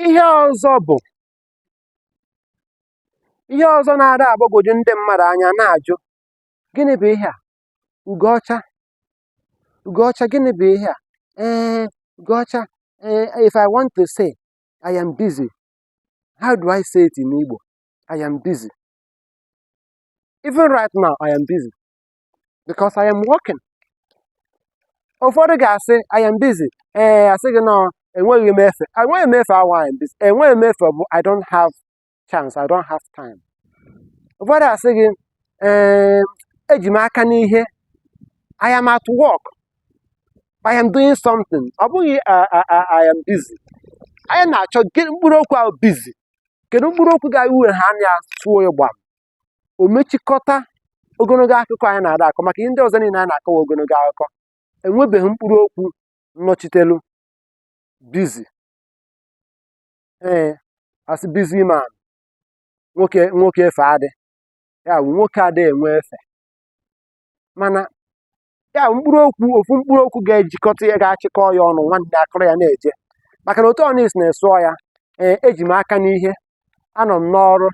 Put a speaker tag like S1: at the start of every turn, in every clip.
S1: Ihe ọzọ bụ ihe ọzọ na-ada agbagwoju ndị mmadụ anya na-ajụ gịnị bụ ihe a? Ugo ọcha ugo ọcha gịnị bụ ihe a? Ee ugo ọcha ee if I want to say I am busy how do I say it in Igbo? I am busy. Even right now I am busy. because I am working ụfọdụ ga-asị I am busy ee asị gị nọ enweghị m efe enweghị m efe awa I am busy enweghị m efe bụ I don't have chance I don't have time ụfọdụ asị gị ee eji m aka n'ihe I am at work I am doing something ọ bụghị uh, uh, uh, I am busy anyị na-achọ mkpụrụ okwu ahụ busy kedu mkpụrụ okwu ga-ewu ha anya tụọ ya gbam o mechikọta ogologo akụkọ anyị na-ada akọ maka ihe ndị ọzọ niile anyị na-akọwa ogologo akụkọ enwebeghị mkpụrụ okwu nnọchitelu busy ee asị busy man nwoke nwoke efe adị ya bụ nwoke adịghị enwe efe mana ya bụ mkpụrụ okwu ofu mkpụrụ okwu ga-ejikọta ya ga-achịkọ ya ọnụ nwanne akụrụ ya na-eje maka na otu ọnụ isi na-esụọ ya ee eji m aka n'ihe anọ m n'ọrụ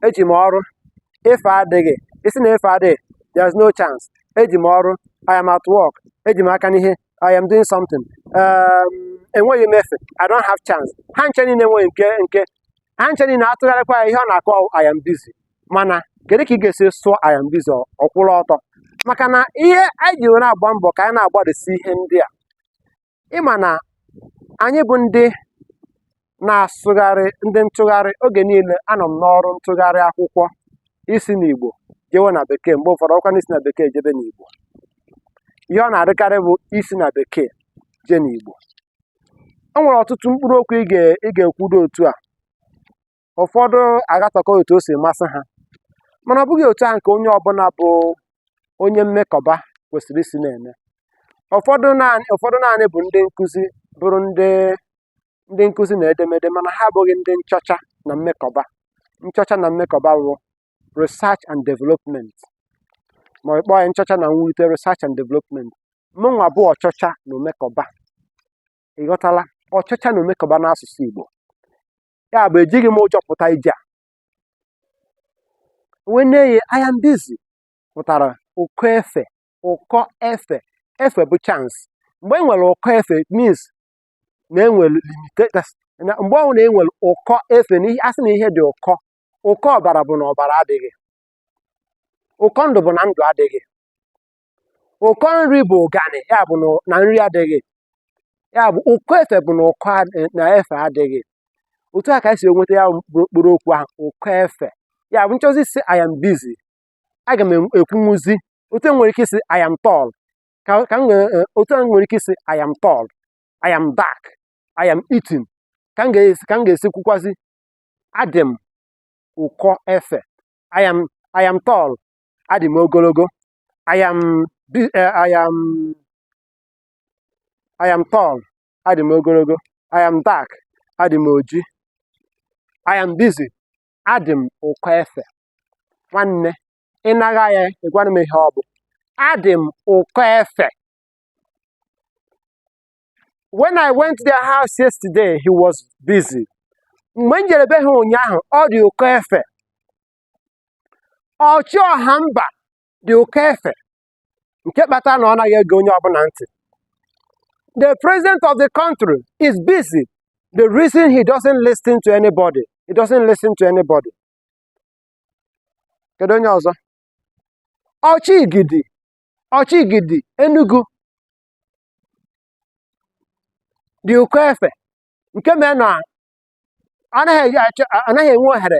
S1: eji m ọrụ efe adịghị ị sị na efe adịghị there's no chance eji m ọrụ I am at work eji m aka n'ihe I am doing something um, enweghị m efe I don't have chance ha nche niile enweghị nke nke ha nche niile atụgharịkwa ya ihe ọ na-akọ I am busy mana kedu ka ị ga-esi sụọ I am busy ọkwụrụ ọtọ maka na ihe anyị ji were agba mbọ ka anyị na-agbalịsi ihe ndị a ị ma na anyị bụ ndị na-asụgharị ndị ntụgharị oge niile anọ m n'ọrụ ntụgharị akwụkwọ isi n'Igbo jewe na bekee mgbe ụfọdụ ọkwa n'isi na bekee jebe n'Igbo ihe ọ na-adịkarị bụ isi na bekee jee n'Igbo o nwere ọtụtụ mkpụrụ okwu ị ga-ekwudo otu a ụfọdụ agatọkọ otu o si masị ha mana ọ bụghị otu ahụ nke onye ọbụla bụ onye mmekọba kwesịrị isi na-eme ụfọdụ naanị ụfọdụ naanị bụ ndị nkụzi bụrụ ndị ndị nkụzi na edemede mana ha abụghị ndị nchọcha na mmekọba nchọcha na mmekọba bụ research and development ma ọ kpọọ ya nchọcha na mwulite research and development mụnwa bụ ọchọcha na omekọba ị ghọtala ọchọcha na omekọba n'asụsụ Igbo ya bụ ejighị m ụjọ pụta ije a wee nye ya I am busy pụtara ụkọ efe ụkọ efe efe bụ chance mgbe e nwere ụkọ efe it means na enwere limitations na mgbe ọbụla na enwere ụkọ efe na ihe asị na ihe dị ụkọ ụkọ ọbara bụ na ọbara adịghị ụkọ ndụ bụ na ndụ adịghị ụkọ nri bụ ụganị ya bụ na- na nri adịghị ya bụ ụkọ efe bụ na ụkọ ad- na efe adịghị otu a ka e si enweta ya bụ mkpụrụ okwu ahụ ụkọ efe ya bụ m chọzi ịsị I am busy aga m en- ekwunwuzi otu e nwere ike ịsị I am tall ka ka m nwee eh, otu a m nwere ike ịsị I am tall I am dark I am eating ka m ga-esi ka m ga-esi kwukwazi adị m ụkọ efe I am I am tall adị m ogologo I am eh, I am I am tall adị m ogologo I am dark adị m oji I am busy adị m ụkọ efe nwanne ị naghị ya ị gwanụ m ihe ọ bụ adị m ụkọ efe when I went to their house yesterday he was busy mgbe m jere be ha ụnyaahụ ọ dị ụkọ efe ọchị ọha mba dị ụkọ efe nke kpatara na ọ naghị ege onye ọbụla ntị the president of the country is busy the reason he doesn't listen to anybody he doesn't listen to anybody kedu onye ọzọ ọchị igidi ọchị igidi Enugu dị ụkọ efe nke mere na anaghị enwe ohere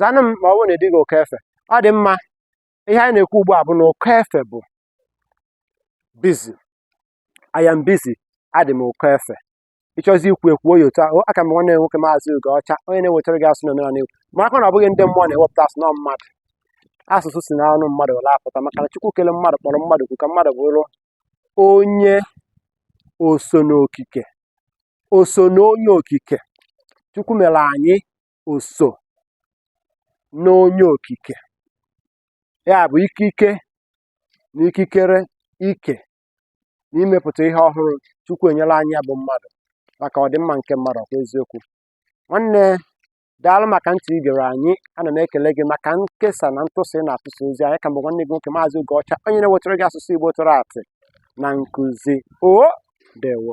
S1: zanụ m ma ọ bụrụ na ị dịghị ụkọ efe ọ dị mma ihe anyị na-ekwu ugbu a bụ na ụkọ efe bụ busy I am busy adị m ụkọ efe ị chọzi ikwu ekwuo ya otu ahụ aka m nwanne nwoke maazị Ugoọcha onye na-ewetara gị asụsụ na omenala Igbo maka na ọ bụghị ndị mmụọ na-ewepụta asụsụ na ọ mmadụ asụsụ si n'ọnụ mmadụ were apụta maka na Chukwu kele mmadụ kpọrọ mmadụ kwu ka mmadụ bụrụ onye oso n'okike oso n'onye okike Chukwu mere anyị oso n'onye okike ya bụ ikike na ikikere ike na imepụta ihe ọhụrụ Chukwu enyela anyị ya bụ mmadụ maka ọdịmma nke mmadụ ọkwa eziokwu nwanne daalụ maka ntị i gere anyị ana m ekele gị maka nkesa na ntụsa ị na-atụsa ozi anyị ka m bụ nwanne gị nwoke maazị Ugoọcha onye na-ewetara gị asụsụ Igbo tụrụ atị na nkụzi o dewo